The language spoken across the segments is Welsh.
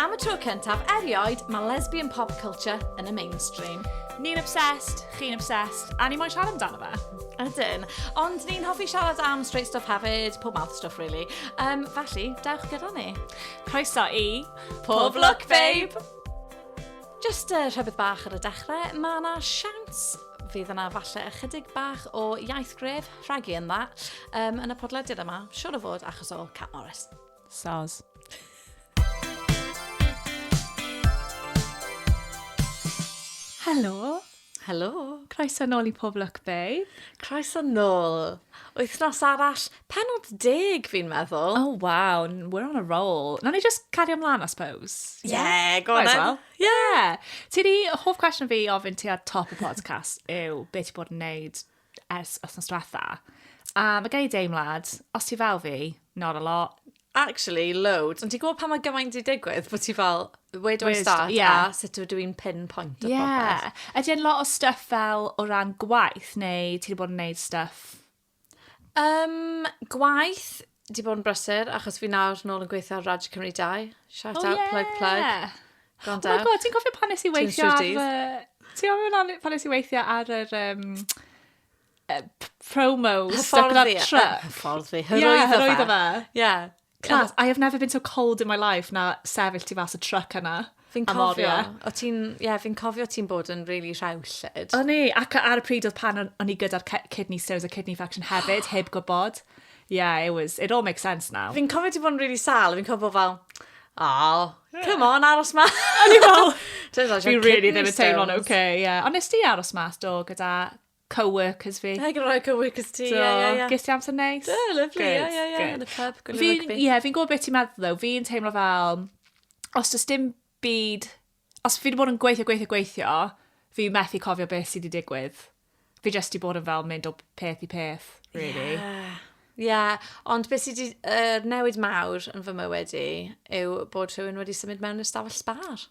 Am y tro cyntaf erioed, mae lesbian pop culture yn y mainstream. Ni'n obsessed, chi'n obsessed, a ni moyn siarad amdano fe. Ydyn. Ond ni'n hoffi siarad am straight stuff hefyd, pob mouth stuff really. Um, felly, dewch gyda ni. Croeso i... Pob Look Babe! Jyst uh, rhybydd bach ar y dechrau, mae yna siawns fydd yna falle ychydig bach o iaith gref rhagu yn dda um, yn y podlediad yma, siwr o fod achos o Cat Morris. Soz. Helo, Helo! Croeso nôl i Pob Lwc Babe. Croeso nôl. Wythnos arall, penod deg fi'n meddwl. Oh wow, we're on a roll. Nawn ni just cario mlaen, I suppose. Yeah, go on then. Yeah. Ti di, hoff cwestiwn fi i ofyn ti ar top y podcast yw, be ti bod yn neud ers wythnos diwetha. A mae gen i deimlad, os ti fel fi, not a lot. Actually, loads. Ond ti'n gwybod pan mae gymaint di digwydd, bod ti fel, where do I start, yeah. a sut ydw i'n pinpoint o yeah. popeth. Ydy e'n lot o stuff fel o ran gwaith, neu ti'n bod yn neud stuff? Um, gwaith, Di bod yn brysur, achos fi nawr nôl yn gweithio ar Raj Cymru 2. Shout oh, out, yeah. plug, plug. Gone down. Oh my god, ti'n cofio pan nes i weithio ar... Ti'n cofio pan nes i weithio ar yr... Um, uh, promo stuck in that truck. Ffordd fi. Hyrwyddo fe. Yeah. Class, I have never been so cold in my life na sefyll ti fas y truck yna. Fi'n cofio, o ti'n, ie, yeah, fi'n cofio ti'n bod yn really rhewllyd. O'n i, ac ar y pryd oedd pan o'n i gyda'r kidney stones a kidney faction hefyd, heb gwybod. Yeah, it was, it all makes sense now. Fi'n cofio ti'n bod yn really sal, fi'n cofio fel, oh, come on, aros ma. O'n i fel, fi really ddim yn teimlo'n oce, ie. Ond nes ti aros mas do gyda co-workers fi. Ac yn rhoi co-workers ti, ie, ie, ie. Ges ti amser neis? Do, lyflu, ie, ie, ie, yn y pub, gwylio rygbi. Ie, fi'n gwybod beth ti'n meddwl ddo, fi'n teimlo fel, os does dim byd, os fi wedi bod yn gweithio, gweithio, gweithio, fi methu cofio beth sydd wedi digwydd. Fi jyst wedi bod yn fel mynd o peth i peth, really. Yeah. Ie, yeah, ond beth sydd wedi uh, newid mawr yn fy mywyd i yw bod rhywun wedi symud mewn i'r stafell sbar.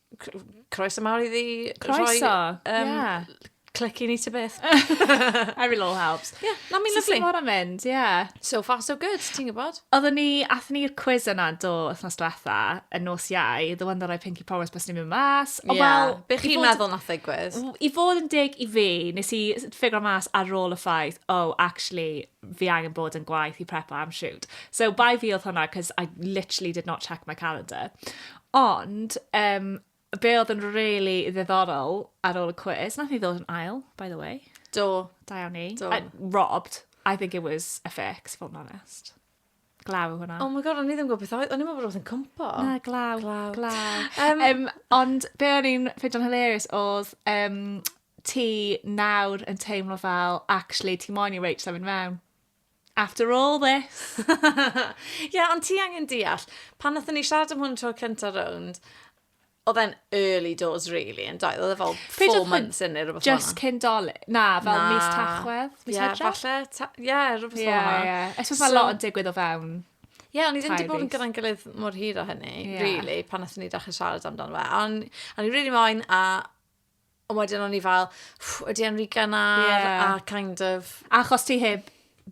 croeso mawr iddi croeso. rhoi... Croeso, um, yeah clicky ni to beth. Every little helps. Yeah, na mi'n lyflu. So sy'n mynd, yeah. So far so good, ti'n gwybod? Oedden ni, athyn ni'r quiz yna do wythnos diwetha, y nos iau, the one that I pinky promise bys ni'n mynd mas. O, yeah. well, Be chi'n meddwl na ffigwyr? I fod yn dig i fi, nes i ffigur mas ar ôl y ffaith, oh, actually, fi angen bod yn gwaith i prepo am shoot. So, by fi oedd hwnna, cos I literally did not check my calendar. Ond yym be' odd yn rili ddiddorol ar ôl y cwis, nath ni ddod yn ail by the way. Do. Da iawn ni. Do. Yy robbed. I think it was a fake i fod yn onest. Glaw yw hwnna. Oh my God o'n i ddim yn gwbo beth oedd o'n i'n meddwl bod rwbeth yn cwmpo. Na glaw. Glaw. Glaw. Yym Yym ond be' o'n i'n ffindio'n hilarious odd yym ti nawr yn teimlo fel actually ti moyn i Rach symud mewn. After all this! Ie, yeah, ond ti angen deall, pan nathon ni siarad am hwn tro cynta rownd, oedd e'n early doors, really, yn doedd? Oedd e fel four months in neu rhywbeth Just cyn doli. Na, fel na. mis tachwedd, mis yeah, hydra. Falle, ie, yeah, rhywbeth fel yeah, yna. Yeah. Ysgwrs so, mae lot yn digwydd o fewn. Ie, yeah, ond i ddim wedi bod yn gyda'n gilydd mor hir o hynny, yeah. really, pan nathon ni ddechrau siarad amdano fe. Ond, o'n i'n really moyn, a Ond wedyn o'n i fel, ydy e'n rhy gynnar, yeah. a kind of... Achos ti heb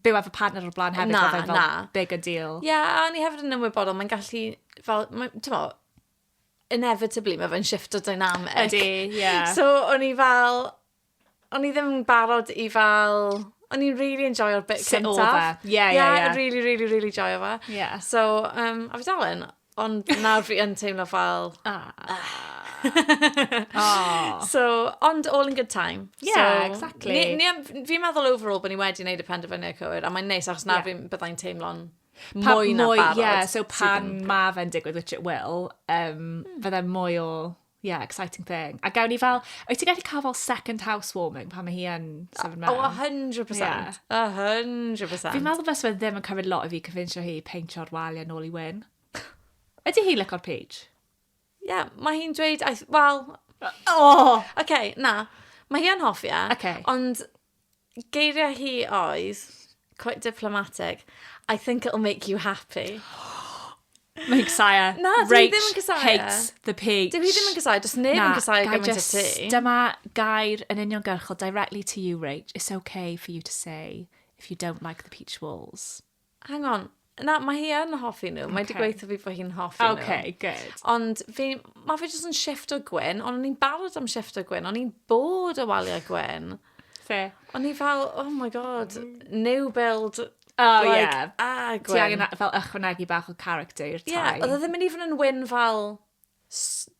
byw efo partner o'r blaen hefyd, na, oedd e'n fel big a deal. Ie, yeah, a ni hefyd yn ymwybodol, mae'n gallu, fel, ti'n mo, inevitably mae fe'n shift o dynamic. Ydy, ie. Yeah. So, o'n i fel, o'n i ddim yn barod i fel, o'n i'n really enjoyo'r bit cyntaf. Sut oedd e? Ie, ie, ie. Really, really, really joyo fe. Yeah. So, um, a fi dal yn, Ond nawr fi yn teimlo fel... Ah. Ah. so, ond all in good time. Yeah, so, exactly. Ni, ni, fi'n meddwl overall bod ni wedi gwneud y penderfyniad cywir, a mae'n neis, achos na yeah. fi'n byddai'n teimlo'n mwy na barod. Yeah, so pan mae fe'n digwydd, which it will, um, mm. fydde mwy o Yeah, exciting thing. A gawn ni fel, wyt ti'n gallu cael fel second housewarming pan mae hi yn sefyll mewn? Oh, 100%. Yeah. 100%. Fi'n meddwl bys fe ddim yn cymryd lot o fi cyfinsio hi peintio'r wal yn ôl i wyn. Ydy hi lyco'r peach? Ie, yeah, mae hi'n dweud, wel... Oh! Oce, okay, na. Mae hi yn hoffi e. Okay. Ond Geiriau hi oedd, quite diplomatic, I think it'll make you happy. Mae'n gysau. Na, dwi Rach ddim yn cysau. hates the page. Dwi ddim yn cysau, does neb yn cysau gymaint o ti. Dyma gair yn union gyrchol directly to you, Rach. It's okay for you to say if you don't like the peach walls. Hang on. Na, mae hi yn hoffi nhw. Mae wedi gweithio fi bod hi'n hoffi nhw. OK, good. Ond fi, mae fe jyst yn shift o gwyn, ond o'n i'n barod am shift o gwyn, o'n i'n bod o waliau gwyn. Fe. O'n i fel, oh my god, new build. Oh, like, yeah. Ah, gwyn. Ti angen fel ychwanegu bach o character i'r tai. Yeah, oedd e ddim yn even yn wyn fel...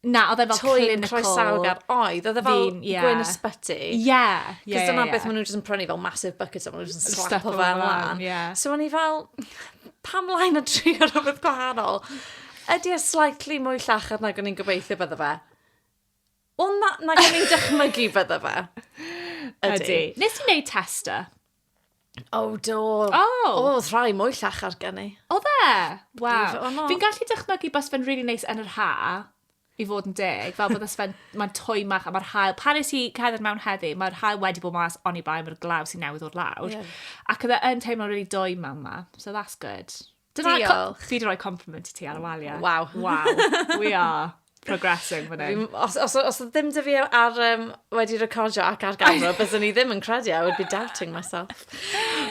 Na, oedd e fel clinical. Toy croesawgar oedd. Oedd e fel Fi'n- ie. gwyn ysbyty. Ie, ie, ie, Cos dyna ie. beth maen nhw jyst yn prynu fel massive buckets a maen nhw jyst yn Slap slapo o fe lan, lan. ie. So o'n i fel, pam laen a tri o rhywbeth gwahanol? Ydy e slightly mwy llachar nag o'n i'n gobeithio bydde fe? Wel na, nag o'n i'n dychmygu bydde fe. Ydy. Nes i wneud tester. O, oh, do. O! Oh. O, oedd rhai mwy llachar gen i. O dde? Waw. Fi'n gallu dychmygu bas fe'n really neis yn yr ha, i fod yn deg, fel bod fe'n, mae'n twy mach a mae'r hael, pan nes i cedder mewn heddi, mae'r hael wedi bod mas oni bai mae'r glaw sy'n newydd o'r lawr. Yeah. Ac oedd e'n teimlo'n really dwy mewn ma, so that's good. Diolch. Fi di roi compliment i ti ar y waliau. Waw. Waw. We are progressing fan hyn. Os, os, os ddim dy fi ar, um, wedi recordio ac ar gamera, byddwn i ddim yn credu, I would be doubting myself.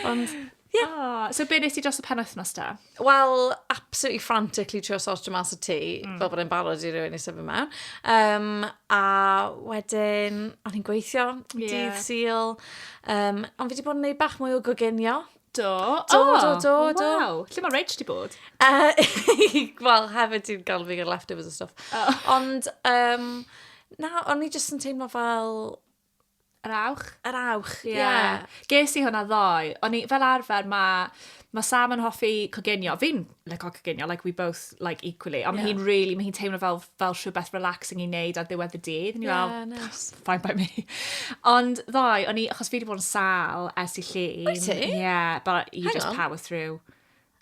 Ond, Yeah. Oh, so be nes ti dros y pen wythnos da? Wel, absolutely frantically trio sortio mas y tŷ, mm. fel bod e'n barod i rywun i sefyll mewn. Um, a wedyn, o'n i'n gweithio, yeah. dydd syl. Um, ond fi wedi bod yn neud bach mwy o goginio. Do. Do, oh, do, do, oh, do. Wow. Lle mae Reg di bod? Uh, Wel, hefyd ti'n galw fi gyda leftovers a stuff. Oh. Ond, um, na, o'n i jyst yn teimlo fel... Yr awch? Yr awch, ie. Yeah. yeah. Ges i hwnna ddoe. O'n i, fel arfer, mae ma Sam yn hoffi cogenio. Fi'n like o coginio, like we both like equally. Ond yeah. mae hi'n really, mae hi'n teimlo fel, fel rhywbeth relaxing i wneud ar ddiwedd y dydd. Ni yeah, fel, nice. fine by me. Ond ddoe, o'n i, achos fi wedi bod yn sal ers i llun. Wyt ti? Yeah, but you Hang just on. power through.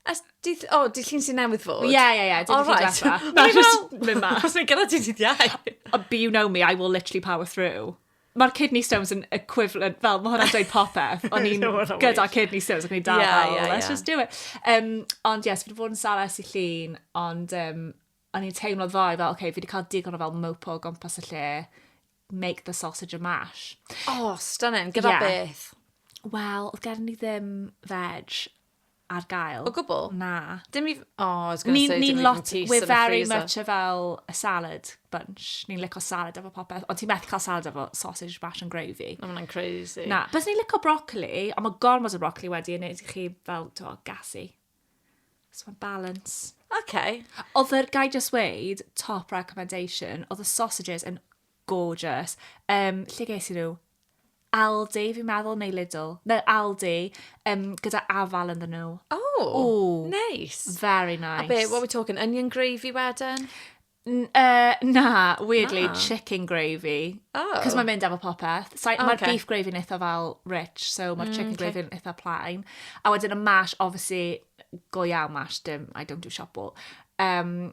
As, dydd, oh, dydd llun sy'n newydd fod? Ie, ie, ie. All right. Na, just mynd mas. Mae'n gyda ti dydd iau. But you know me, I will literally power through. mae'r kidney stones yn equivalent, fel mae hwnna'n dweud popeth, o'n i'n gyda kidney stones, ac o'n i'n dal yeah, yeah, let's yeah. just do it. Um, ond yes, fi wedi bod yn sales i llun, ond um, o'n i'n teimlo ddoe fel, oce, okay, fi wedi cael digon o fel mopo o gwmpas y lle, make the sausage a mash. Oh, stunning, gyda yeah. beth? Wel, oedd gen i ddim veg, ar gael. O gwbl? Na. Dim i... O, I was going to say, dim i fy nghyst yn y freezer. We're very much a fel a salad bunch. Ni'n lico salad efo popeth, ond ti'n methu cael salad efo sausage mash and gravy. Na, mae'n crazy. Na, bys ni'n lico broccoli, ond mae gormod o broccoli wedi yn neud i chi fel, to, gassy. So mae'n balance. OK. Oedd yr, gai just weid, top recommendation, oedd y sausages yn Gorgeous. Um, lle ges i nhw? Aldi, fi'n meddwl, neu Lidl. No, Aldi, um, gyda afal yn nhw. O, oh, Ooh, nice. Very nice. A be, what we talking, onion gravy wedyn? N- Uh, na, weirdly, Na. chicken gravy. Oh. Cos mae'n mynd efo popeth. So, oh, Mae'r okay. beef gravy yn eitha fel rich, so mae'r chicken okay. gravy yn eitha plain. A wedyn y mash, obviously, go iawn mash, dim, I don't do shop wall. Um,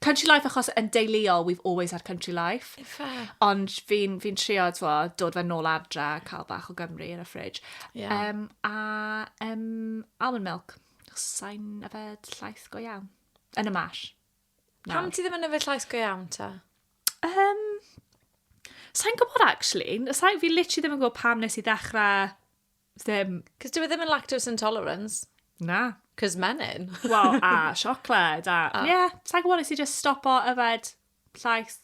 Country life achos yn deuluol we've always had country life. Ife. Ond fi'n fi trio twa, dod fe nôl adre, cael bach o Gymru yn y ffridge. Yeah. Um, a um, almond milk. Sa'n yfed llaeth go iawn. Yn y mash. Pam ti ddim yn yfed llaeth go iawn ta? Um, sa'n gwybod actually. Sa'n fi literally ddim yn gwybod pam nes i ddechrau Ddim. Cos dyw e ddim yn lactose intolerance. Na. Cos menyn. Wel, a siocled, a... Ie, yeah, sa'n gwybod nes i just stopo yfed llaeth.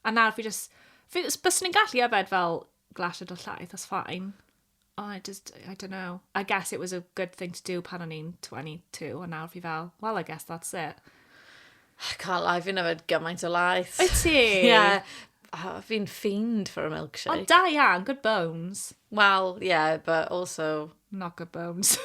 A nawr fi just... Fi, bys ni'n gallu yfed fel glasiad o llaeth, that's fine. Oh, I just, I don't know. I guess it was a good thing to do pan o'n i'n 22, a nawr fi fel, well, I guess that's it. I can't lie, fi'n yfed gymaint o laeth. Wyt ti? Yeah. Oh, fi'n fiend for a milkshake. Ond da iawn, good bones. Wel, yeah, but also... Not good bones.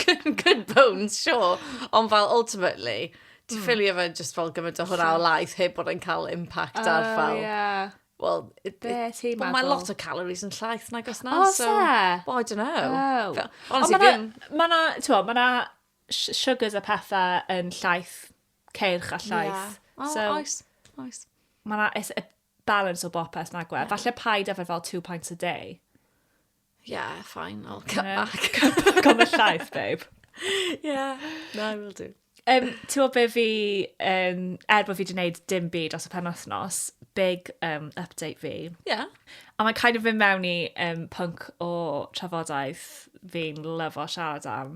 good, good bones, sure. Ond fel, ultimately, ti mm. ffili yfed just fel gymaint o hwnna o laeth heb bod yn cael impact uh, ar oh, fel... Yeah. Well, it, Be ti'n meddwl? Mae lot o calories yn llaeth nag os na. O, so, se? Well, I don't know. Oh. Fel, honestly, Ond mae'na, ma ti'n meddwl, mae'na sugars a pethau yn llaeth ceirch a llaeth. Yeah. Oh, so, oes, oes. Mae yna it's a balance o bopeth nag we. Yeah. Falle paid efer fel two pints a day. Yeah, fine, I'll cut yeah. back. cut back on the llaeth, babe. yeah, no, I will do. Um, Ti'n be fi, um, er bod fi wedi gwneud dim byd os y pen wythnos, big um, update fi. Yeah. A mae'n kind of mynd mewn i um, punk o trafodaeth fi'n lyfo siarad am.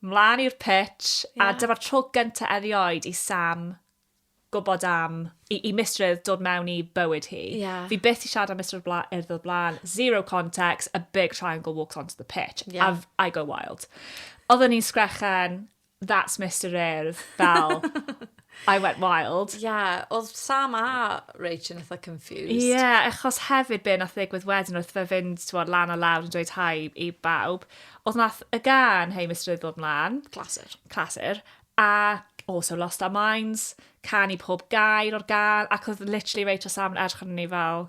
Mlaen i'r pitch, a dyma'r tro gyntaf erioed i Sam gwybod am, i, i mistrwydd dod mewn i bywyd hi. Yeah. Fi byth i siarad am mistrwydd bla, erdd o'r blaen, zero context, a big triangle walks onto the pitch. Yeah. A I go wild. Oedden ni'n sgrechen, that's Mr Urdd, fel... I went wild. Ie, yeah, oedd Sam a Rach yn eitha confused. Ie, yeah, achos hefyd be nath ddigwydd wedyn wrth fe fynd tywod, lan a lawr yn dweud hai i bawb, oedd nath y gan Hei Mr Eiddod mlaen. Clasur. Clasur. A also lost our minds, can i pob gair o'r gan, ac oedd literally Rach a Sam yn edrych arno ni fel,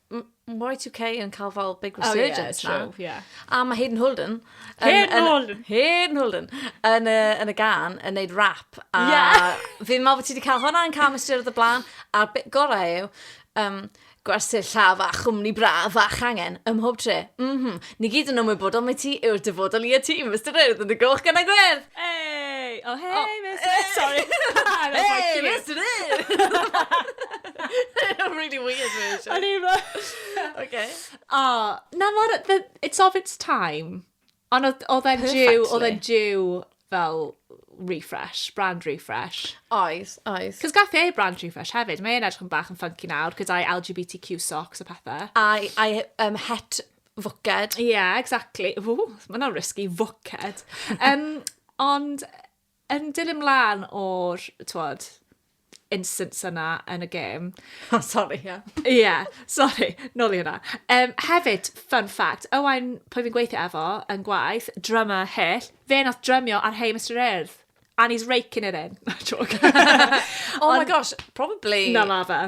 Y2K yn cael fel big resurgence oh, yeah, now. Yeah. A mae Hayden Holden... Hayden Holden! Hayden Holden! Yn y, yn y gan, yn neud rap. A yeah. fi'n meddwl bod ti wedi cael hwnna yn cael mystyr oedd y blaen. A'r bit gorau yw, um, gwersyll llafa, chwmni braf a changen, ym mhob tre. Mm -hmm. Ni gyd yn ymwybodol mai ti yw'r dyfodol i y tîm, Mister Urdd yn y goch gan a gwerdd! Hey! Oh, hey, oh. Mister Urdd! Sorry! hey, Mister Urdd! A really weird version. O'n i'n meddwl... OK. O, na mor... It's of its time. Ond oedd e'n jiw, oedd e'n jiw fel refresh, brand refresh. Oes, oes. Cos gath e brand refresh hefyd, mae e'n edrych yn bach yn funky nawr, gyda'i LGBTQ socks a pethau. A'i um, het Fwced. Ie, yeah, exactly. Ww, mae hwnna'n risky, fwced. um, ond yn dilyn mlaen o'r, twod, instance yna yn y gêm. Oh, sorry, ie. Yeah. Ie, yeah, sorry, nôl i hwnna. Um, hefyd, fun fact, Owain, pwy fi'n gweithio efo, yn gwaith, drummer hyll, fe nath drymio ar Hey Mr Earth. And he's raking it in. Joke. oh my gosh, probably. Na, ma fe.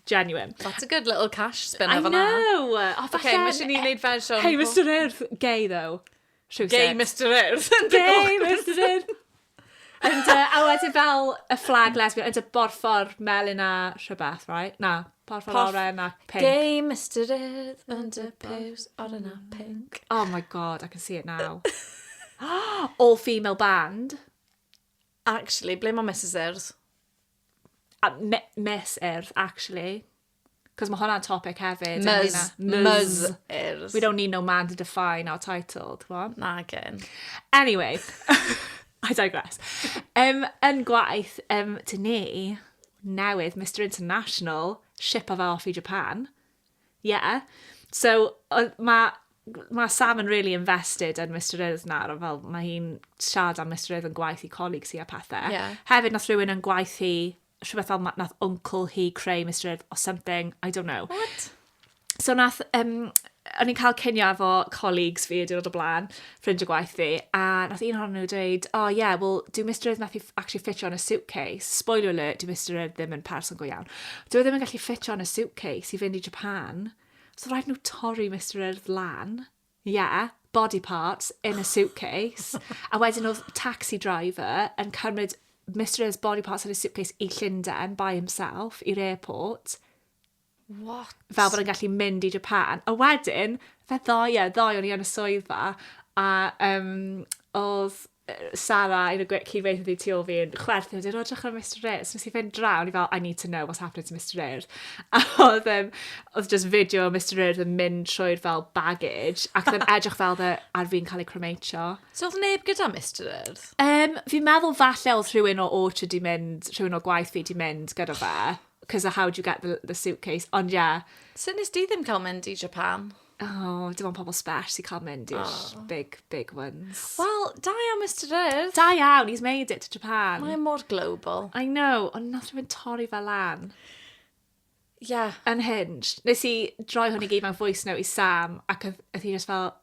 Genuine. That's a good little cash spin I know! Oh, okay, mae eisiau ni wneud fersiwn... Hey, Mr Earth! Gay, though. Rhywsut. Gay Mr Earth! Gay Mr Earth! And, uh, a wedyn fel y flag lesbian, and y borffor melyn a rhywbeth, right? Na, borffor Porf... oren a pink. Gay Mr Earth, and a pose oren a pink. Oh my god, I can see it now. All female band. Actually, ble mae Mrs Earth? A me- mes urdd, actually. Cos mae hwnna'n topic hefyd. Mys. Mys urdd. We don't need no man to define our title, ti'n gwybod? Na, gen. Anyway, I digress. Um, yn gwaith, um, dyn ni newydd, Mr International, ship o fe off i Japan. Yeah. So, mae ma Sam yn really invested yn Mr Earth nawr, fel mae hi'n siarad am Mr Earth yn gwaith i colleagues hi a pethau. Yeah. Hefyd, nath rhywun yn gwaith hi, rhywbeth fel, nath uncle hi creu Mr Earth or something, I don't know. What? So, nath, um, o'n i'n cael cynio efo colleagues fi y diwrnod o blaen, ffrind o gwaith fi, a nath un ohonyn nhw dweud, oh yeah, well, dyw Mister Urdd methu actually ffitio yn y suitcase. Spoiler alert, dyw Mister Urdd ddim yn person go iawn. Dyw e ddim yn gallu ffitio yn y suitcase i fynd i Japan. So rhaid nhw torri Mister Urdd lan. Yeah, body parts in a suitcase. a wedyn oedd taxi driver yn cymryd Mister Urdd's body parts in a suitcase i Llundain by himself, i'r airport. What? Fel bod yn gallu mynd i Japan. A wedyn, fe ddoe, ie, ddoe o'n i yn y swyddfa, a um, oedd Sarah, yn y cyd-weithio di tu ôl fi, yn chwerthu, oedd i'n rodrach ar Mr Ayres. Nes i fynd draw, ni fel, I need to know what's happening to Mr Ayres. A oedd, um, oedd just fideo o Mr Ayres yn mynd trwy'r fel baggage, ac oedd yn edrych fel dde ar fi'n cael ei cromeitio. So oedd neb gyda Mr Ayres? Um, fi'n meddwl falle oedd rhywun o Orchard di mynd, rhywun o gwaith fi di mynd gyda fe. Cos a how do you get the, the suitcase? Ond ie. Yeah. Sut nes di ddim cael mynd i Japan? Oh, dim ond pobl sbes i cael mynd i'r oh. big, big ones. Wel, da iawn, Mr Earth. Da iawn, he's made it to Japan. Mae mor global. I know, ond nath rhywun torri fel lan. Yeah. Unhinged. Nes i droi hwn i gyd mewn voice note i Sam, ac oedd hi just fel,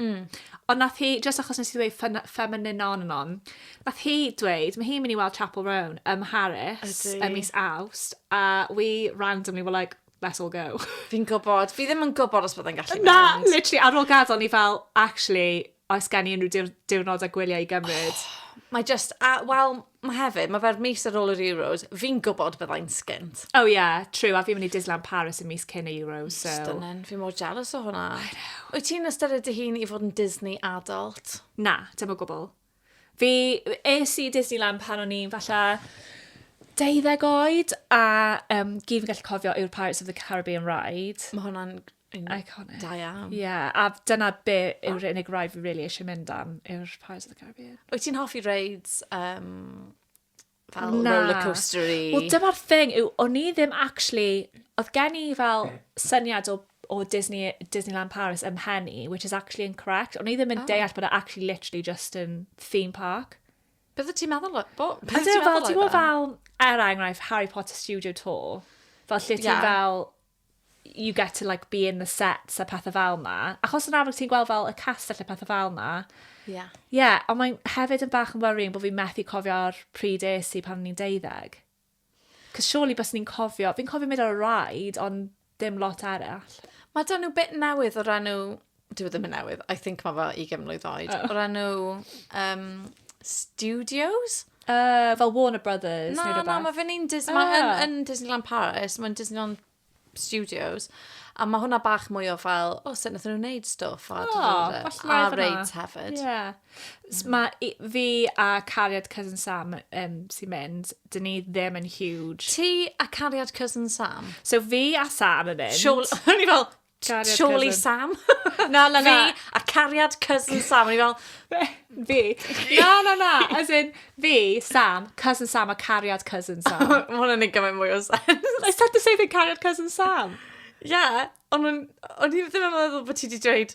Mm. Ond nath hi, jyst achos nes i ddweud ffyn- ffeminin on and on, nath hi dweud, mae hi'n mynd i weld Chapel Roan ym Mharis Ydi. ym mis Awst, a we randomly were like, let's all go. Fi'n gwybod, fi ddim yn gwybod os byddai'n gallu Na, mynd. literally, ar ôl gadael ni fel, actually, oes gen i unrhyw diwr- diwrnod a gwyliau i gymryd? Mae just, a, wel, mae hefyd, mae fe'r mis ar ôl yr Euros, fi'n gwybod byddai'n sgint. Oh yeah, true, a fi'n mynd i Disneyland Paris y mis cyn y Euros, so... Stunning, fi mor jealous o hwnna. I know. Wyt ti'n ystyried dy hun i fod yn Disney adult? Na, dim o gwbl. Fi, es i Disneyland pan o'n i'n falle deuddeg oed, a um, gyd fi'n gallu cofio yw'r Pirates of the Caribbean ride. Mae hwnna'n Iconic. Da iawn. Ie, a dyna be yw'r unig rai fi really eisiau mynd am yw'r Pirates of the Caribbean. Wyt ti'n hoffi reids um, fel Na. roller coaster i? Wel, dyma'r thing yw, o'n i ddim actually... Oedd gen i fel syniad o, o Disney, Disneyland Paris ym mhen i, which is actually incorrect. O'n i ddim yn oh. deall bod e actually literally just yn theme park. Bydde ti'n meddwl... Bo, bydde ti'n meddwl... Ti'n meddwl fel, er enghraifft, Harry Potter Studio Tour, fel lle ti'n yeah. fel you get to like be in the sets a pethau fel na. Achos yn amlwg ti'n gweld fel y cast a pethau fel na. Ie. Yeah. Ie, yeah, ond mae'n hefyd yn bach yn worrying bod fi'n methu cofio'r pryd es i pan o'n i'n deuddeg. Cos surely bys ni'n cofio, fi'n cofio mynd ar y rhaid, ond dim lot arall. Mae da nhw bit newydd o ran nhw Dwi e ddim yn newydd. I think mae fel ugain mlwydd oed. Oh. O'r enw... Um, Studios? Uh, fel Warner Brothers na, neu rhywbeth? Na, na, mae fe'n un Disney... Oh. Mae yn, yn Disneyland Paris, mae'n Disneyland Studios. A mae hwnna bach mwy o fel, o, oh, sut nath nhw'n wneud stwff. A, oh, a, a raids hefyd. Yeah. Mm. Mae fi a Cariad Cousin Sam um, sy'n mynd, dyn ni ddim yn huge. Ti a Cariad Cousin Sam? So fi a Sam yn mynd. Siol, o'n i fel, Cariad Surely cousin. Sam. Na, na, na. Fi a cariad cousin Sam. O'n i fel, Fi. Na, na, na. As in, fi, Sam, cousin Sam a cariad cousin Sam. ma' hwnna'n neud gymaint mwy o sens. I said the same thing, cariad cousin Sam. Ie, ond o'n o'n i ddim yn meddwl bod ti wedi dweud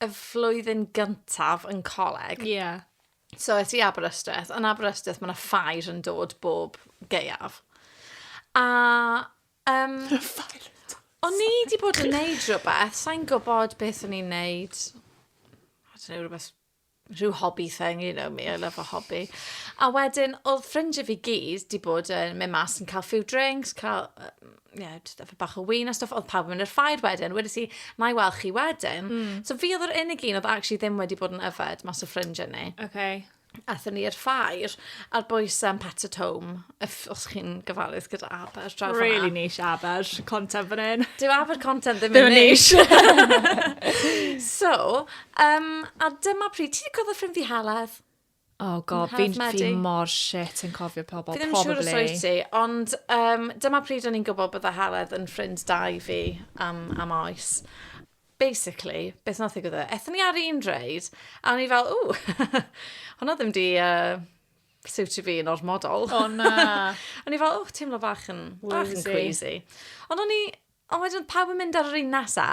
y flwyddyn gyntaf yn coleg. Ie. Yeah. So, es i Aberystwyth. Yn Aberystwyth, mae yna ffair yn dod bob geiaf. A... Um, ffair yn dod. O'n i wedi bod yn neud rhywbeth, sa'n gwybod beth o'n i'n neud. I don't know, rhywbeth rhyw hobby thing, you know me, I love a hobby. A wedyn, oedd ffrindiau fi gyd di bod yn mynd mas yn cael few drinks, cael, um, yeah, just efo bach o wyn a stuff, oedd pawb yn mynd i'r ffair wedyn, wedi si, na i weld chi wedyn. Mm. So fi oedd yr unig un oedd actually ddim wedi bod yn yfed mas o ffrindiau ni. Okay. Athyn ni i'r ffair, a'r boes um, Pat at Home, If, os chi'n gyfalus gyda Aber, draw fanna. Really nish Aber, content fan hyn. Dyw Aber content ddim yn nish. so, um, a dyma pryd, ti wedi cofio ffrind fi Heledd? Oh god, fi'n fi mor shit yn cofio pobl, probably. Fi ddim siŵr os oed ti, ond um, dyma pryd o'n i'n gwybod bydda Heledd yn ffrind da i fi am, am oes basically, beth nath ddigwydd e? Ethon ni ar un reid, a o'n i fel, ww, hwnna ddim di uh, siwtio fi yn ormodol. O na! o'n i fel, oh, teimlo bach yn, bach yn queasy. Ond o'n i, ond wedyn pawb yn mynd ar yr un nesa,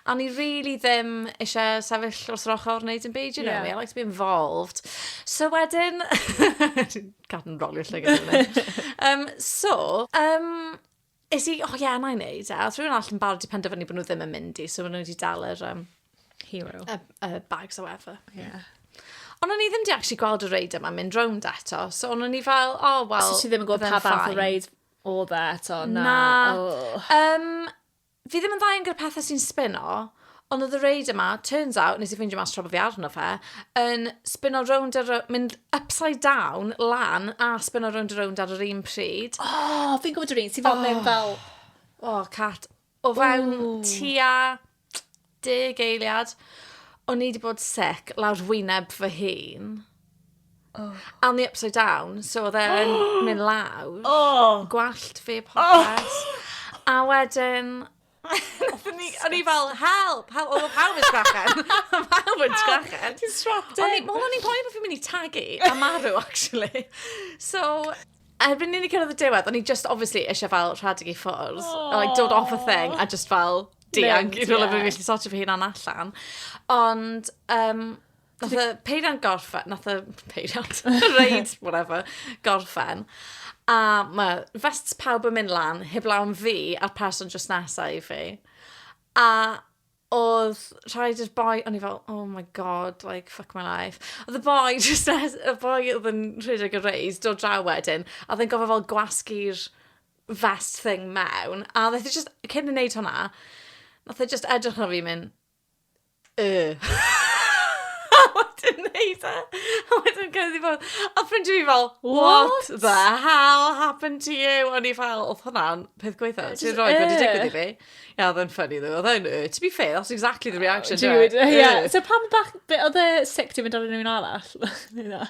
a ni really ddim eisiau sefyll wrth yr ochr wneud yn byd, you know yeah. me, I like to be involved. So wedyn, cadw'n rolio llygad yn um, so, um, Es i, o ie, na i wneud e. Os rhywun arall yn barod i penderfynu bod nhw ddim yn mynd i, so maen nhw wedi dal yr um, Hero. y, y bags o efe. Yeah. Ond o'n i ddim di actually gweld y reid yma mynd rownd eto, so o'n i fel, o, oh, wel... So ti ddim yn gwybod pa fath o reid o dda e eto? Na. na. Oh. Um, fi ddim yn dda yn gyda pethau sy'n spino, Ond oedd y reid yma, turns out, nes i ffeindio mas tra bod fi arno fe, yn spinno rownd a rownd, mynd upside down, lan, a spinno rownd a rownd ar yr un pryd. O, oh, fi'n gwybod yr un sy'n fel oh. mewn fel... O, oh, cat. O fewn Ooh. tua deg eiliad, o'n i wedi bod sic lawr wyneb fy hun. Oh. A o'n i upside down, so oedd e'n mynd lawr. Oh. Gwallt fi popeth. Oh. A wedyn, O'n i fel, help! Help! Oedd pawb yn sgrechen. Oedd pawb yn sgrechen. Ti'n strapped in. Oedd o'n i'n poeni bod fi'n mynd i tagu a marw, actually. So, erbyn i ni cyrraedd y diwedd, o'n i just obviously eisiau fel rhedeg i ffwrdd. Oh. Like, dod off a thing a just fel dianc i rhywle yeah. fi'n gallu sortio fy hunan allan. Ond, um, Nath y peiriant gorffen, nath y peiriant, reid, whatever, gorffen. A mae vests pawb yn mynd lan, heb lawn fi a'r person just nesa i fi. A oedd rhaid i'r boi, o'n i fel, oh my god, like, fuck my life. Oedd y boi, just nes, y boi oedd yn rhedeg y reis, dod draw wedyn, a oedd yn gofio fel gwasgu'r vest thing mewn, a oedd e just, cyn yn neud hwnna, nath e just edrych ar fi mynd, yy. a wedyn neud e. A wedyn cyrraedd i ffwrdd. A ffrindiau fi fel, what the hell happened to you? O'n i fel, oedd hwnna'n peth gweitha. Ti'n rhoi wedi digwydd i fi. Ia, oedd yn ffynnu ddo. Oedd e'n, to be fair, that's exactly the reaction. Dude, ia. So pam bach, oedd e sick ti'n mynd ar unrhyw un arall?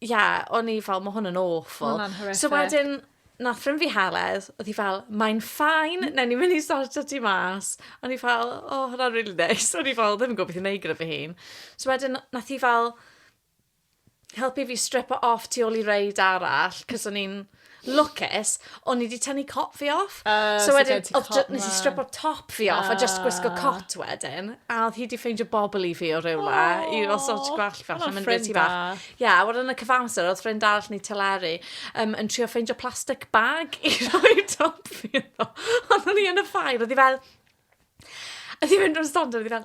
Ie, o'n i fel, ma' hwn yn awful. Ma' hwnna'n horrific. So wedyn, nath ffrind fi Heledd, odd hi fel, mae'n fine, newn ni myn' i sortio ti mas. O'n i fel, o, hwnna'n rili neis. O'n i fel ddim yn gwbo beth i neud gyda fy hun. So wedyn n- nath hi fel helpu fi stripo off tu ôl i reid arall, 'c'os o'n i'n lwcus, o'n i wedi tynnu cot fi off. Uh, so, so wedyn, nes i stripo top fi off uh, a just gwisgo ah. cot wedyn. A oedd hi wedi ffeindio bobl i fi o rywle, oh, i fel sort gwell fel yn mynd beth i fach. Ia, yeah, a wedyn y cyfamser, oedd ffrind arall ni teleri um, yn trio ffeindio plastic bag i roi top fi. Oedd o'n i yn y ffair, oedd hi fel, A ti'n mynd o'r stand a fi fel,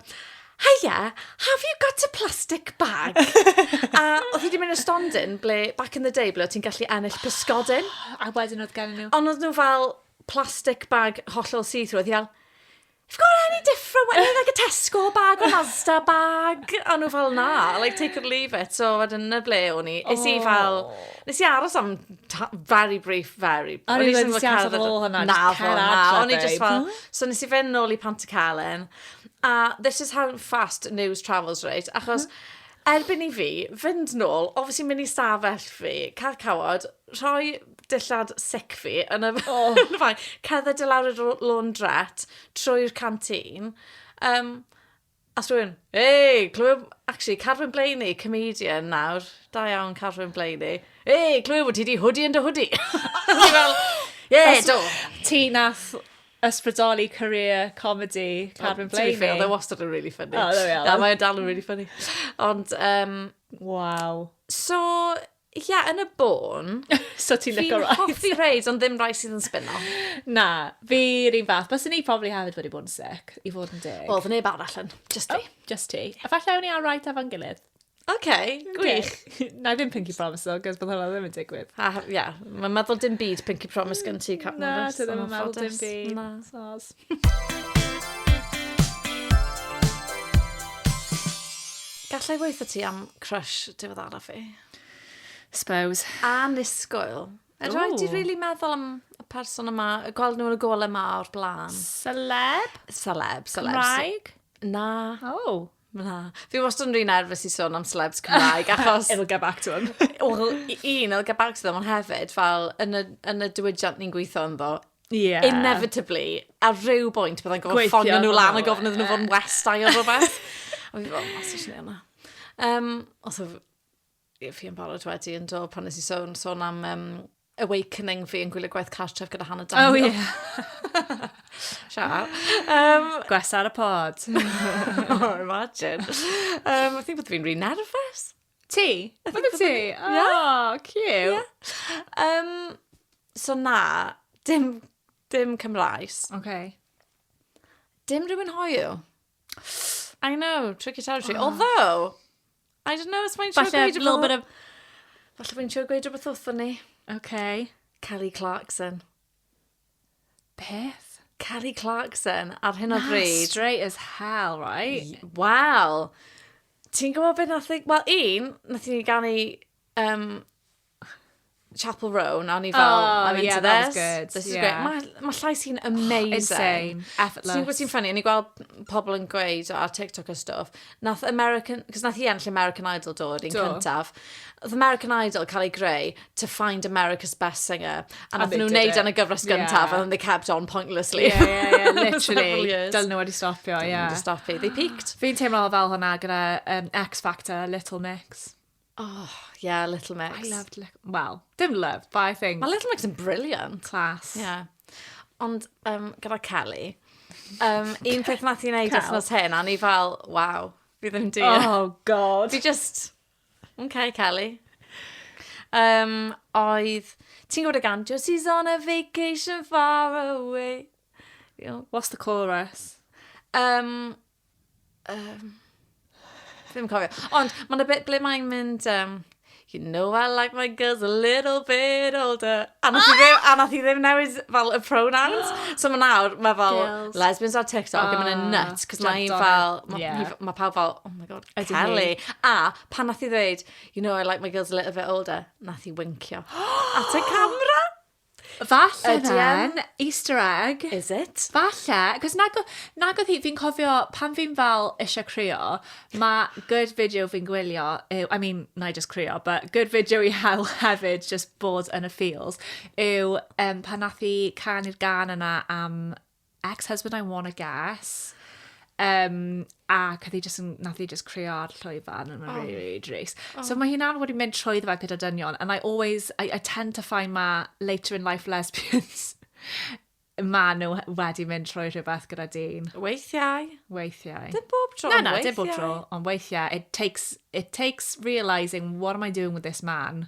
Hiya, have you got a plastic bag? a oedd hi wedi mynd i'r stondin ble, back in the day, ble oedd ti'n gallu ennill pysgodyn. a wedyn oedd gen nhw. Ond oedd nhw fel plastic bag hollol see-through. Oedd hi fel, You've got any different one, like a Tesco bag or Asda bag? A nhw fel, na, like take or leave it. So wedyn na ble o'n i. Nes i fel, nes i aros am very brief Very. O'n i wedi siarad efo fo hwnna. Na fo, na. O'n i jyst fel... So nes i fynd nôl i Pantycelyn, a this is how fast news travels reit, achos erbyn i fi fynd nôl, obviously mynd i stafell fi, cael cawod, rhoi dillad sic fi yn y bag, cerdded i lawr i'r laundrette trwy'r canteen, um, Ask rhywun. Hei! Clywed... Actually, Carwyn Blaney, comedian nawr. Da iawn, Carwyn Blaney. Hei! Clywed bod ti di hwdi yn dy hwdi. Ie, do. Ti nath ysbrydoli career comedy Carwyn Blaney. To be fair, oedd e wastad yn really funny. Oh, there we are. Da, mae'n dal yn really funny. Ond, um, Waw. So, Ie, yeah, yn y bôn... so ti'n licio rides? Fi'n hoffi rides, ond ddim rides sydd yn spinno. Na, fi rhywun fath. Bas ni probably hefyd wedi bod yn sick, i fod yn deg. Wel, fy neb arall yn, just ti. Oh, just ti. A falle ewn ni ar right efo'n gilydd. OK, gwych. Okay. Na i ddim Pinky Promise o, gos bod hwnna ddim yn digwydd. A, ia, yeah. mae'n meddwl dim byd Pinky Promise gen ti, Captain Na, ti ddim yn meddwl dim byd. Na. Sos. Gallai weithio ti am crush diwedd araf fi? Suppose. A nisgoel. A rhaid ti really meddwl am y person yma, y gweld nhw yn y gole yma o'r blaen. Celeb? Celeb, celeb. Cymraeg? Na. Oh. Na. Fi wastad yn rhy nerfus i sôn am celebs Cymraeg, achos... it'll get back to them. Wel, i- un, it'll get back to them, ond hefyd, fel, yn y, yn y diwydiant ni'n gweithio ynddo, Ie. inevitably, ar rhyw bwynt, byddai'n gofod Gweithio ffonio nhw arno lan fo, a gofyn iddyn nhw fod yn ie. westai ar rhywbeth. a fi fel, os ydych chi'n yna. Um, os ydych fi yn barod wedi yn do, pan nes i sôn, sôn am um, Awakening fi yn gwylio gwaith cartref gyda Hannah Daniel. Oh, yeah. Shout out. Um, Gwesa ar y pod. oh, imagine. Um, I think bod fi'n rhi nerfus. Ti? I think bod ti? Oh, yeah. cute. Yeah. Um, so na, dim, dim Cymraes. Okay. Dim rhywun hoiw. I know, tricky territory. Oh. Although, I don't know, os mae'n siŵr gweud rhywbeth... Falle, little Falle mae'n siŵr gweud rhywbeth wrthyn ni. OK. Kelly Clarkson. Beth? Kelly Clarkson, ar hyn o bryd. straight as hell, right? Wow. Ti'n gwybod beth nath... Wel, un, nath ni ganu um, Chapel Row, na o'n i fel, oh, I'm into yeah, this. Good. This is yeah. great. Mae ma llais hi'n amazing. Insane. Effortless. Ti'n gwybod sy'n ffynnu, o'n i gweld pobl yn gweud ar TikTok a stuff, nath American, cos nath hi enll American Idol dod i'n cyntaf. Oedd American Idol cael ei greu to find America's best singer. A nath nhw'n neud yn y gyfres gyntaf, yeah. and they kept on pointlessly. Yeah, yeah, yeah, literally. Dyl nhw wedi stopio, yeah. Dyl nhw wedi stopio, they peaked. Fi'n teimlo fel hwnna gyda um, X Factor, Little Mix. Oh, yeah, Little Mix. I loved Little... Wel, dim loved, but I think... Mae Little Mix yn brilliant. Class. Yeah. Ond um, gyda Kelly, um, un peth nath i wneud wythnos hyn, a ni fel, waw, fi ddim di. Oh, god. Fi just, okay, Kelly. Um, oedd, ti'n gwybod y gan, just he's on a vacation far away. You know. What's the chorus? Um, Um, ddim yn cofio. Ond mae'n y bit ble mae'n mynd... Um, you know I like my girls a little bit older. A nath i ddim, a nath i ddim newid fel y pronouns. So mae nawr, mae fel Girls. lesbians ar TikTok oh, yn mynd yn Ah, nuts. Cos mae jumped un on fel, it. mae Yeah. ma pawb fel, oh my god, Ydi hi. Kelly. A pan nath i ddweud, you know I like my girls a little bit older, nath i wincio. At y camera. Falle then, Easter egg. Is it? Falle, cos nag, nag oedd hi, fi'n cofio pan fi'n fel eisiau cryo, mae good video fi'n gwylio, yw, I mean, na i just cryo, but good video i hel hefyd, just bod yn y feels, yw um, pan nath i canu'r gan yna am ex-husband I wanna guess. Um, a cath i just, nath i just creo ar llwyfan and oh. really, really dries. Oh. So mae hynna'n wedi mynd trwy ddfa gyda dynion and I always, I, I tend to find ma later in life lesbians ma nhw wedi mynd trwy rhywbeth gyda dyn. Weithiau. Weithiau. Dim bob tro, Na, na, dim bob tro, ond weithiau. It takes, it takes realising what am I doing with this man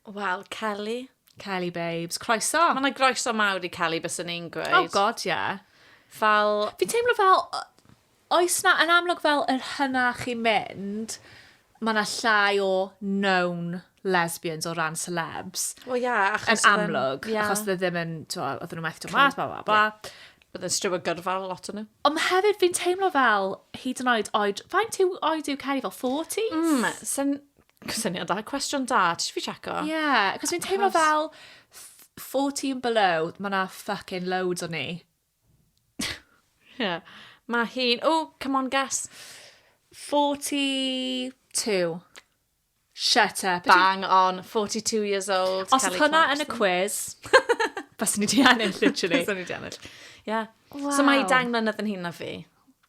Wel, Kelly. Kelly babes, croeso! Mae yna groeso mawr i Kelly, bys yn i'n gweud. Oh god, ie. Yeah. Fel... Fi'n teimlo fel, oes na, yn amlwg fel yr hynna chi'n mynd, mae yna llai o known lesbians o ran celebs. Wel, ie, yeah, achos... Yn amlwg, yeah. achos dde ddim yn, twa, oedden nhw methu to mas, bla, bla, bla. Yeah. Bydd yn striw o gyrfa lot o'n nhw. Ond hefyd, fi'n teimlo fel, hyd yn oed oed, faint yw oed yw Kelly fel 40s? Mm, sy'n Cysyniad da, cwestiwn da, ti eisiau fi checo? Ie, yeah, cos fi'n teimlo fel 14 below, mae yna fucking loads o ni. Ie, yeah. mae hi'n, oh, come on, guess. 42. Shut up. Bang on, 42 years old. Os oedd hwnna yn y quiz, bys ni di ennill, literally. bys ni di ennill. Yeah. Wow. So mae i dang mlynedd yn hyn na fi.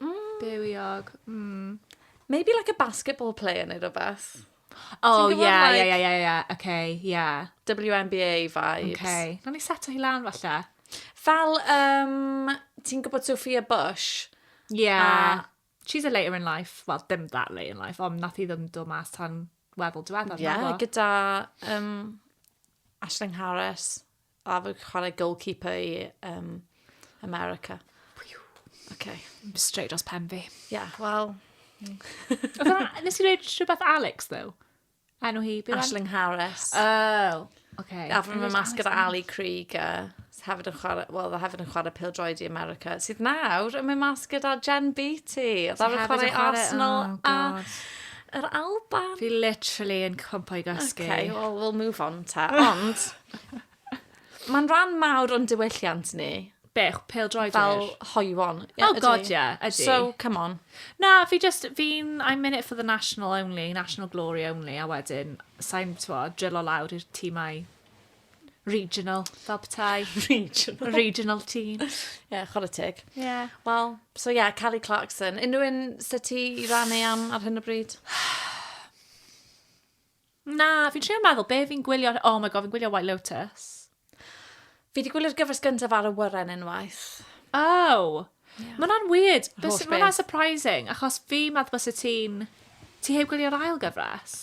Mm. Bywiog. Mm. Maybe like a basketball player neu rhywbeth. Oh, ie, ie, ie, ie, ie. Oce, ie. WNBA vibes. Oce. Rhaid ni seto hi lan falle. Fel, um, ti'n gwybod Sophia Bush? Ie. Yeah. She's a later in life. Wel, dim that later in life, ond nath i ddim dod mas tan weddol diweddar. Ie, yeah, gyda um, Ashling Harris. A fi'n chwarae goalkeeper i um, America. Okay. Straight dros pen fi. Yeah, well... Nes i reid rhywbeth Alex, though? Enw hi? Ashling Harris. Oh, okay. A fy mynd mas gyda Ali Krieger. Hefyd yn chwarae, well, hefyd yn chwarae pil droed i America. Sydd nawr yn mynd mas gyda Jen Beatty. Oedd ar y chwarae Arsenal oh, a yr Alban. Fi literally yn cwmpo i gysgu. Okay, well, we'll move on ta. Ond... Mae'n rhan mawr o'n diwylliant ni. Be, pel droed Fel hoiwon. Oh ydy. god, ie, ydy. So, come on. Na, fi just, fi'n, I'm in it for the national only, national glory only, a wedyn, sa'n, twa, drillo lawr i'r tîmau regional, fel petai. regional. Regional team. Ie, yeah, chwarae teg. Ie. Yeah. Wel, so ie, yeah, Kelly Clarkson. Unrhyw un sy'n ti i rannu am ar hyn o bryd? Na, fi'n trio meddwl, be fi'n gwylio... Oh my God, fi'n gwylio White Lotus. Fi wedi gwylio'r gyfres gyntaf ar y wyren unwaith. Oh! Yeah. Mae hwnna'n weird. Mae hwnna'n surprising, achos fi meddwl bys y ti'n... Ti heb gwylio'r ail gyfres?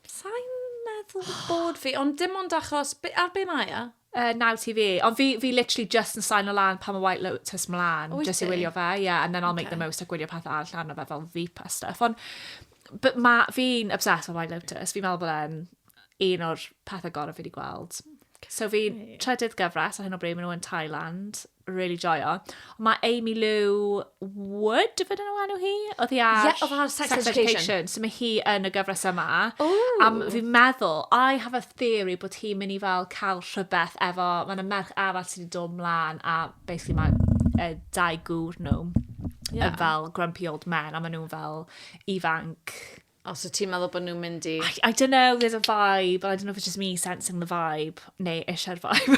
Sa'n meddwl bod fi, ond dim ond achos... Ar be mae e? Yy Now TV. Ond fi fi literally jyst yn saino lan pan mae White Lotus mlan, jyst i wylio fe, ie, and then I'll make the most a gwylio pethau arall arno fe fel Veep a stuff. Ond b- ma' fi'n obsessed with White Lotus, fi'n meddwl bod e'n un o'r pethau gorau fi wedi gweld. So fi'n trydydd gyfres ar hyn o bryd, maen nhw yn Thailand. really joio. Mae Amy Lou Wood, fydden nhw enw hi? Oedd hi ar yeah, oedd Sex, Sex Education. Education. So mae hi yn y gyfres yma. Ooh. Am fi'n meddwl, I have a theory bod hi'n mynd i fel cael rhywbeth efo, mae yna merch arall sydd wedi dod mlaen a basically mae uh, dau gŵr nhw yeah. fel grumpy old men a maen nhw'n fel ifanc Os wyt ti'n meddwl bod nhw'n mynd i... I, I don't know, there's a vibe, and I don't know if it's just me sensing the vibe, neu eisiau'r vibe.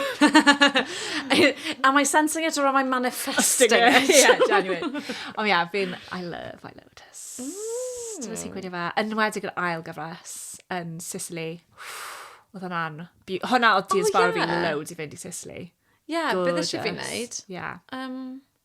Am I sensing it or am I manifesting it? yeah, genuine. Ond yeah, fi'n, I love I Lotus. Mm. Dyna sy'n gweithio fe. Yn wedi yr ail gyfres yn Sicily. Oedd hwnna'n... Hwna oedd Dia's oh, Barbie yeah. loads i fynd i Sicily. Yeah, beth eisiau fi'n neud? Yeah. Um,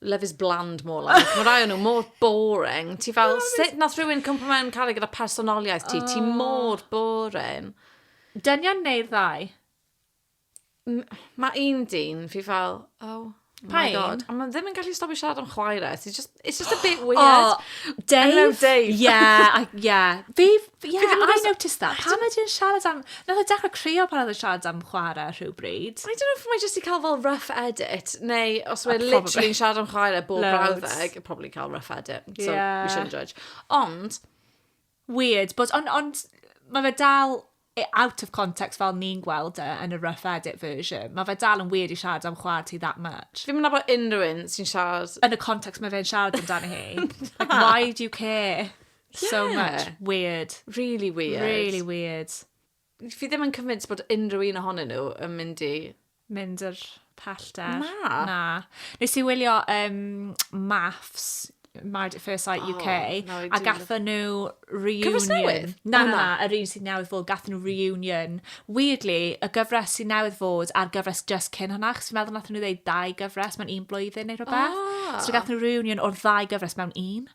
Love is bland, more like. Mae rai o nhw mor boring. Ti fel, sut nath rhywun cwmpa mewn caru gyda personoliaeth ti? Ti oh. mor boring. Dynion neu'r ddau? Mae un dyn, fi fel, oh, Pa oh un? Ond mae ddim yn gallu stopio siarad am chwaer e. It's just, it's just a bit weird. Oh, Dave? Hello, Dave. Yeah, I, yeah. Fi, But yeah, Because I noticed that. Pam ydi e'n siarad am... Nath o dechrau crio pan oedd e'n siarad am chwarae rhywbryd. I don't know if mae jyst i cael fel rough edit, neu os mae literally yn siarad am chwarae bob brawddeg, probably cael rough edit, so yeah. we shouldn't judge. Ond... Weird, but ond on, mae fe dal e out of context fel ni'n gweld e yn y rough edit version. Mae fe dal yn weird i siarad am chwarae ti that much. Fi'n mynd bod unrhyw un sy'n siarad... Yn y context mae fe'n siarad amdano hi. like, why do you care? Yeah. So much. Weird. Really weird. Really weird. Fi ddim yn convinced bod unrhyw un ohonyn nhw yn mynd i... Mynd yr pellter. Na. Na. Nes i wylio um, Maths, Married at First Sight UK, oh, no, a gatho nhw reunion. Cyfres newydd? Na, na, na, yr un sy'n newydd fod, gatho nhw reunion. Weirdly, y gyfres sy'n newydd fod a'r gyfres just cyn hwnna, chos fi'n meddwl nath nhw ddeud dau gyfres mewn un blwyddyn neu rhywbeth. Oh. So gatho nhw reunion o'r ddau gyfres mewn un.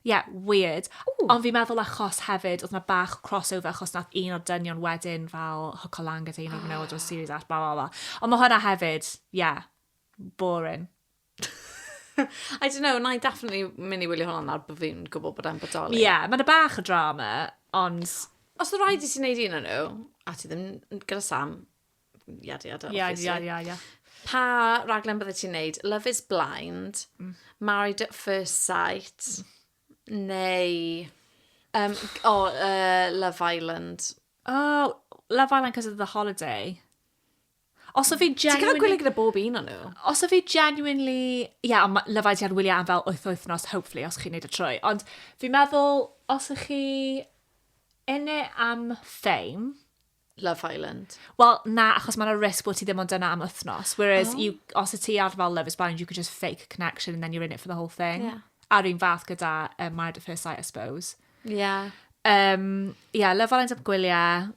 Ie, weird. Ww! Ond fi'n meddwl achos hefyd, oedd 'na bach o crossover achos nath un o'r dynion wedyn fel hwco lan gyda un o'r menywod o'r series arall, blah, blah, blah. Ond ma' hwnna hefyd, ie, boring. I don't know, na i definitely mynd i wylio hwnna nawr bod fi'n gwybod bod e'n bodoli. Ie, yeah, mae'n bach o drama, ond... Os oedd rhaid i ti wneud un o'n nhw, a ti ddim gyda Sam, yada yada obviously. Yada yada yada. Pa raglen bydde ti'n neud? Love is Blind, mm. Married at First Sight, mm. neu... Um, oh, uh, Love Island. Oh, Love Island cos of the holiday. Os o fi genuinely... Ti'n cael gwylio gyda bob un o'n nhw? Os o fi genuinely... Ia, yeah, ond Love Island ar wyliau am fel wyth wythnos, hopefully, os chi'n neud y trwy. Ond fi'n meddwl, os ych chi yn e am fame, Love Island? Wel, na, achos mae'n a risk bod ti ddim ond yna am wythnos. Whereas, oh. you, os y ti ar fel Love is Blind, you could just fake a connection and then you're in it for the whole thing. Yeah. A'r un fath gyda um, Married at First Sight, I suppose. Yeah. Um, yeah, Love Island am gwyliau.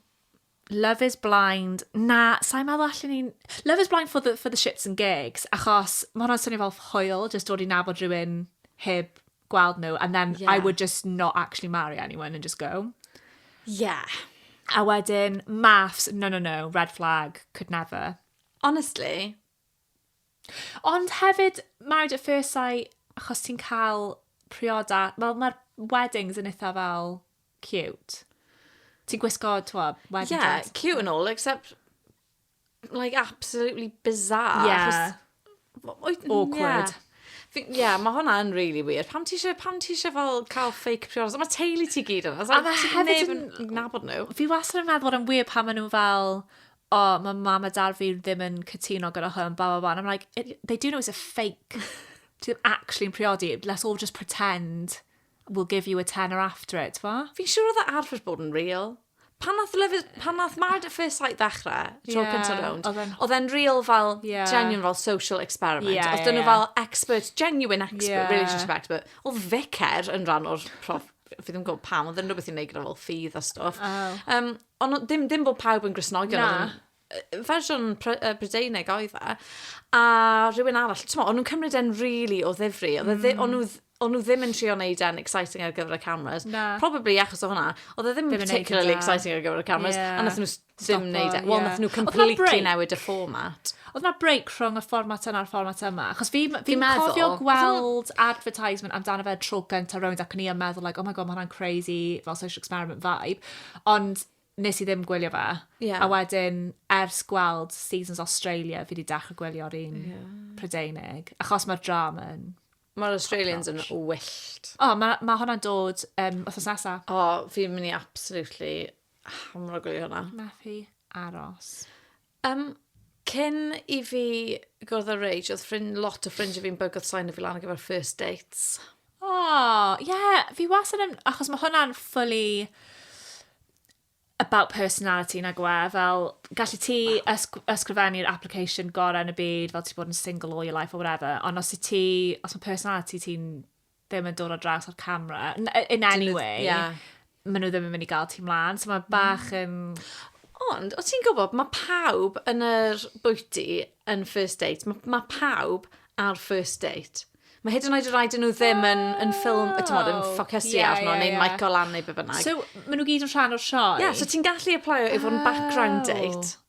Love is Blind. Na, sa'n meddwl allan ni'n... Love is Blind for the, for the shits and gigs, achos mae hwnna'n swnio fel hoel, just dod i nabod rhywun heb gweld nhw and then yeah. I would just not actually marry anyone and just go. Yeah. A wedyn, maths, no, no, no, red flag, could never. Honestly. Ond hefyd, married at first sight, achos ti'n cael prioda, wel mae'r weddings yn eitha fel cute. Ti'n gwisgo, twa, wedding yeah, dress. Yeah, cute and all, except like, absolutely bizarre. Yeah. Achos, Awkward. Yeah. Ie, yeah, mae hwnna yn really weird. Pam ti eisiau, pam ti eisiau fel cael fake priodas? Mae teulu ti gyd yna. A mae hefyd yn... Nabod nhw. Fi wastad yn meddwl bod yn weird pan maen nhw fel o, oh, mae mam a dad fi ddim yn cytuno gyda hwn, ba, ba, ba. And I'm like, they do know it's a fake. Ti ddim actually'n priodi. Let's all just pretend We'll give you a tenner after it, t'mo'? Fi'n siŵr oedd e arfer bod yn real. Pan nath Love is... pan nath Married at First Sight ddechrau, y tro cynta rownd, oedd e'n real fel genuine fel social experiment. Oedd 'da nhw fel expert, genuine expert, relationship expert. Oedd Vicar yn rhan o'r prof- fi ddim yn gwybod pam, oedd e'n rhywbeth i wneud gyda fel ffydd a stwff. Yym, ond oedd dim dim bod pawb yn Gristnogion... Na. fersiwn Brydeinig oedd e, a rhywun arall, ti'n o'n nhw'n cymryd e'n rili really o ddifri, oedd e mm. o'n nhw o'n nhw ddim yn trio wneud e'n exciting ar gyfer y cameras. Na. Probably achos o hwnna. Oedd e ddim, ddim particularly exciting ar gyfer y cameras. Yeah. A nath nhw ddim wneud e. Wel, yeah. nath nhw completely newid y format. Oedd na break rhwng y format yna a'r format yma? Achos fi, fi, fi cofio gweld advertisement amdano fe tro gyntaf rownd ac ni yn meddwl, like, oh my god, mae hwnna'n crazy, fel social experiment vibe. Ond nes i ddim gwylio fe. Yeah. A wedyn, ers gweld Seasons Australia, fi wedi dechrau gwylio'r un yeah. Prydeinig. Achos mae'r drama yn... Mae'r Australians yn wyllt. O, oh, mae ma hwnna'n dod um, os oes nesaf. O, oh, fi'n mynd i absolutely hamro gwylio hwnna. Methu aros. Yym, cyn i fi gwrdd â Rage, oedd ffrind, lot o ffrindiau fi'n bygwth sain o fi lan ar gyfer first dates. O, ie, fi wastad yn... Achos mae hwnna'n fully about personality, nag yw e? Fel, gallet ti ysg- ysgrifennu'r application gorau yn y byd, fel ti 'di bod yn single all your life or whatever, ond os wyt ti... os mae personality ti'n ddim yn dod o draws o'r camera, in any way, yeah. maen nhw ddim yn mynd i gael ti mlaen, so mae bach mm. yn... Mm. Ond, o ti'n gwybod, mae pawb yn yr bwyty yn first date, mae, mae pawb ar first date. Mae hyd yn oed y rhaid nhw ddim yn, yn ffilm, y tymod, yn oh, ffocysu yeah, arno, yeah, neu yeah. Michael Ann neu be bynnag. So, maen nhw gyd yn rhan o'r sioe? Ie, yeah, so ti'n gallu applaio i fod yn background date.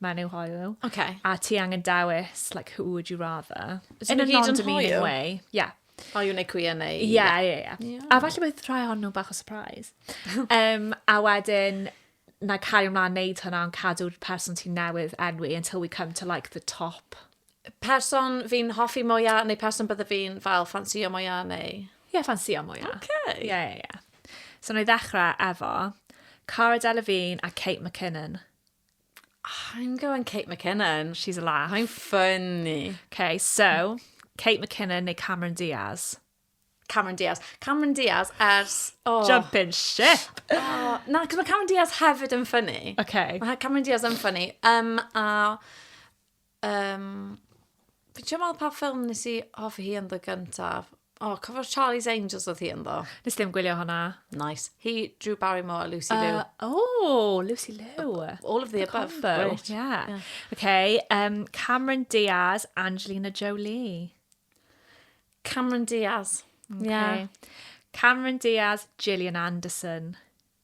mae'n eu hoyw. Oce. A ti angen dewis, like, who would you rather? Yn y gyd yn hoyw? Way. Yeah. Hoyw neu queer neu... Ie, ie, ie. A falle bydd rhai o'n nhw'n bach o surprise. um, a wedyn, na cario ymlaen wneud hwnna, ond cadw'r person ti'n newydd enwi until we come to like the top. Person fi'n hoffi mwyaf, neu person bydde fi'n fel ffansio mwyaf, neu... Ie, yeah, ffansio mwyaf. Oce. Okay. Ie, yeah, ie, yeah, ie. Yeah. So, na i ddechrau efo Cara Delevingne a Kate McKinnon. I'm going Kate McKinnon. She's a laugh. Mae'n funny. Okay, so, Kate McKinnon neu Cameron Diaz? Cameron Diaz. Cameron Diaz ers... Oh. Jumping ship! Oh, na, cos mae Cameron Diaz hefyd yn ffynnu. Okay. Mae Cameron Diaz yn ffynnu. Um, a Yym, fi'n trio meddwl pa ffilm nes i hoffi hi ynddo gyntaf. O, oh, cofio'r Charlie's Angels oedd hi ynddo? Nes dim gwylio hwnna. Nice. Hi, Drew Barrymore a Lucy Liu. Uh, oh, Lucy Liu. All of the above. Combo. Great. Yeah. yeah. Okay, um, Cameron Diaz, Angelina Jolie. Cameron Diaz. Okay. Yeah. Cameron Diaz, Gillian Anderson.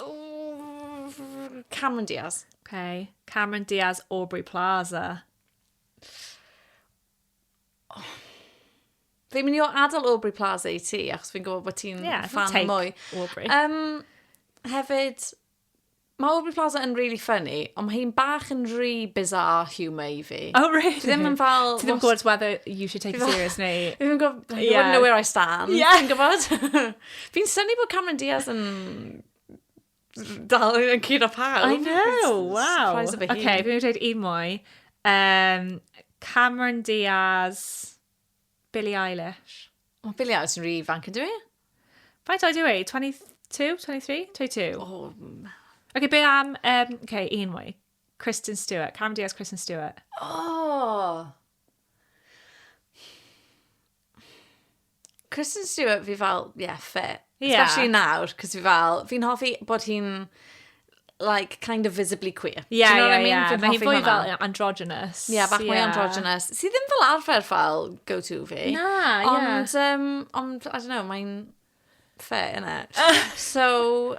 Ooh, Cameron Diaz. Okay. Cameron Diaz, Aubrey Plaza. Oh. Fi'n mynd i o adael Aubrey Plaza i ti, achos fi'n gwybod bod ti'n yeah, fan mwy. Aubrey. Um, hefyd, mae Aubrey Plaza yn really funny, ond mae hi'n bach yn rhy bizarre humour i fi. Oh, really? Ti ddim yn fel... Ti ddim yn gwybod whether you should take it serious neu... Fi ddim yn gwybod... You wouldn't know where I stand. Yeah. Ti'n gwybod? Fi'n syni bod Cameron Diaz yn dal yn cyd o pawb. I know, wow. Surprise of a okay, fi'n dweud un mwy. Um, Cameron Diaz, Billie Eilish. O, oh, Billie Eilish yn rhi fanc yn dwi? Faint oed yw e? 22, 23, 22? Oh. Okay, be am, um, okay, un mwy. Kristen Stewart. Cameron Diaz, Kristen Stewart. Oh! Kristen Stewart fi fel, ie, yeah, fit. Yeah. Especially nawr, cos fi fel, fi'n hoffi bod hi'n like, kind of visibly queer. Ie, yeah, yeah, I mean? yeah. Mae hi'n fwy fel androgynous. Ie, yeah, bach mwy yeah. androgynous. Sy ddim fel arfer fel go-to fi. Na, ie. Yeah. Ond, um, ond, I don't know, mae'n fair, innit? so,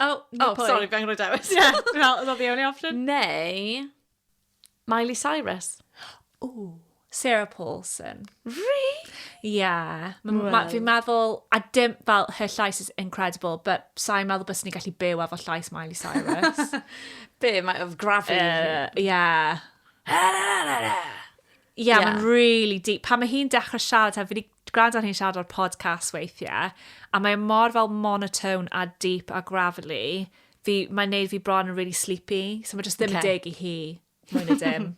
Oh, oh, oh sorry, fe angen dewis. Ie, yeah, well, oedd the only option. Neu, Miley Cyrus. Ooh. Sarah Paulson. Really? Yeah. Well. Fi'n meddwl, a dim, fel, her llais is incredible, but sa'n meddwl bys ni'n gallu byw efo llais Miley Cyrus. Be, mae of gravity. Uh, yeah. yeah, yeah. mae'n really deep. Pan mae hi'n dechrau siarad, fi wedi Dw gwrando hi'n siarad ar podcast weithie a mae e mor fel monotone a deep a gravelly fi mae'n neud fi bron yn really sleepy so mae jyst ddim yn deg i hi mwy na dim.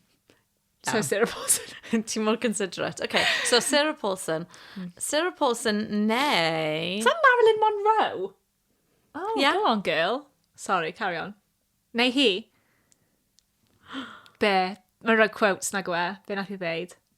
So Sarah Paulson. Ti'n mor considerate. Okay, so Sarah Paulson. Hmm. Sarah Paulson neu... Sa Marilyn Monroe? Oh, yeah. go on girl. Sorry, carry on. Neu hi? Be? Mae'n rhoi quotes na gwe. Be nath i ddeud?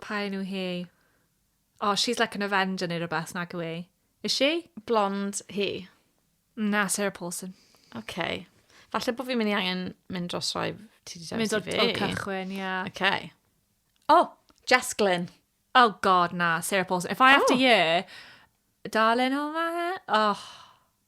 Pa un yw hi? Oh, she's like an Avenger neu rhywbeth, nag yw e? Is she? Blond hi? Na, Sarah Paulson. Okay. Falle bod fi'n mynd i angen mynd dros rhoi ti wedi dewis i fi. Mynd o'r cychwyn, ie. Yeah. Okay. Oh, Jess Glynn. Oh god, na, Sarah Paulson. If I oh. have to oh. year, darling, oh my... Oh.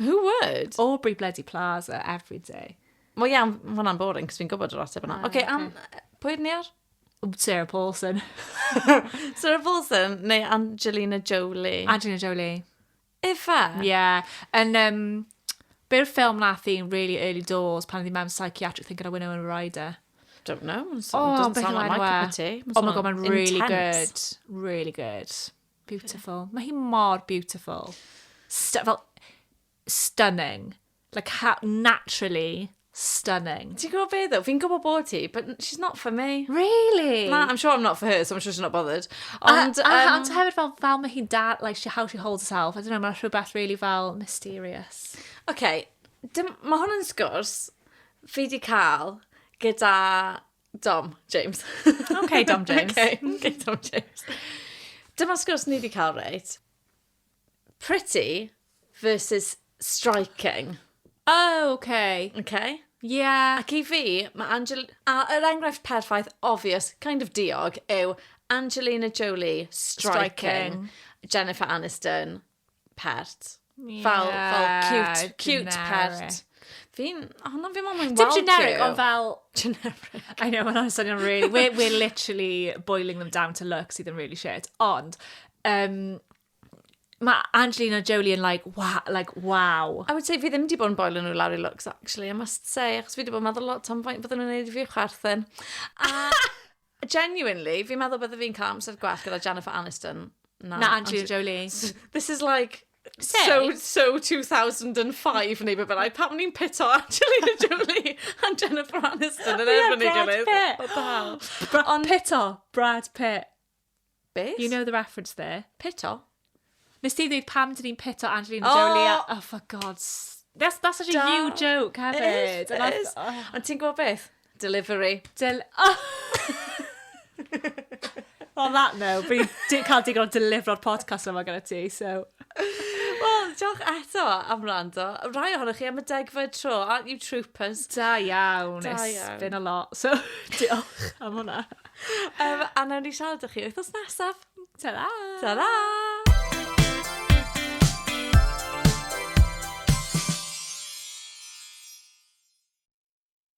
Who would? Aubrey bloody Plaza, every day. Wel ia, ond ma' hwnna'n boring, cos fi'n gwybod yr ateb yna. Ah, Oce, am... Pwy ni ar? Sarah Paulson. Sarah Paulson neu Angelina Jolie? Angelina Jolie. Efa? Ie. Yn, um, be yw'r ffilm nath i'n really early doors pan oedd hi mewn psychiatric thing gyda Winona Ryder? Don't know. So, oh, doesn't sound like my cup of tea. Oh my god, mae'n really good. Really good. Beautiful. Mae hi mor beautiful. St fel, stunning. Like, how, naturally stunning. Ti'n gwybod beth o? Fi'n gwybod bod ti, but she's not for me. Really? Na, I'm sure I'm not for her, so I'm sure she's not bothered. Ond, a, a, um, ond hefyd fel, fel mae hi'n da, like, she, how she holds herself. I don't know, mae'n rhywbeth really fel mysterious. OK, mae hwn yn sgwrs fi di cael gyda Dom James. OK, Dom James. OK, OK, Dom James. Dyma sgwrs ni wedi cael, reit? Pretty versus striking. Oh, OK. OK? Yeah. Ac i fi, mae Angel... A yr enghraifft perffaith, obvious, kind of diog, yw Angelina Jolie striking, striking. Jennifer Aniston pert. Yeah, fel, fel cute, cute generic. pert. Fi'n, oh no, fi'n mwyn weld Dim generic, ond fel... Generic. I know, mae'n swnio'n really... We're, we're literally boiling them down to look sydd yn really shit. Ond, um, mae Angelina Jolie yn like, wow, like, wow. I would say fi ddim wedi bod yn boiling nhw lawr i looks, actually, I must say, achos fi wedi bod yn meddwl lot am faint fydden nhw'n neud i fi chwerthin. A... Genuinely, fi'n meddwl bydde fi'n cael amser gwell gyda Jennifer Aniston. Na, na Angelina Jolie. This is like... Say. So, so 2005 neu beth bynnag. Pam ni'n pito Angelina Jolie a Jennifer Aniston yn erbyn ei gilydd? Brad Pitt. Brad Pitt. Brad Pitt. Beth? You know the reference there. Pito? Nes ti ddweud pam dyn ni'n pito Angelina oh! Jolie a... Oh, for gods. That's, that's such a da. you joke hefyd. It is, it is. Oh. Ond ti'n gwybod beth? Delivery. Del... Oh. On that note, fi di cael digon o delifro'r podcast yma gyda ti, so... Wel, diolch eto am rando. Rai ohonoch chi am y degfed tro, aren't you troopers? Da iawn. Da iawn. It's been a lot, so diolch am hwnna. um, a nawn ni siarad â chi wythnos nesaf. Ta-ra! Ta-ra!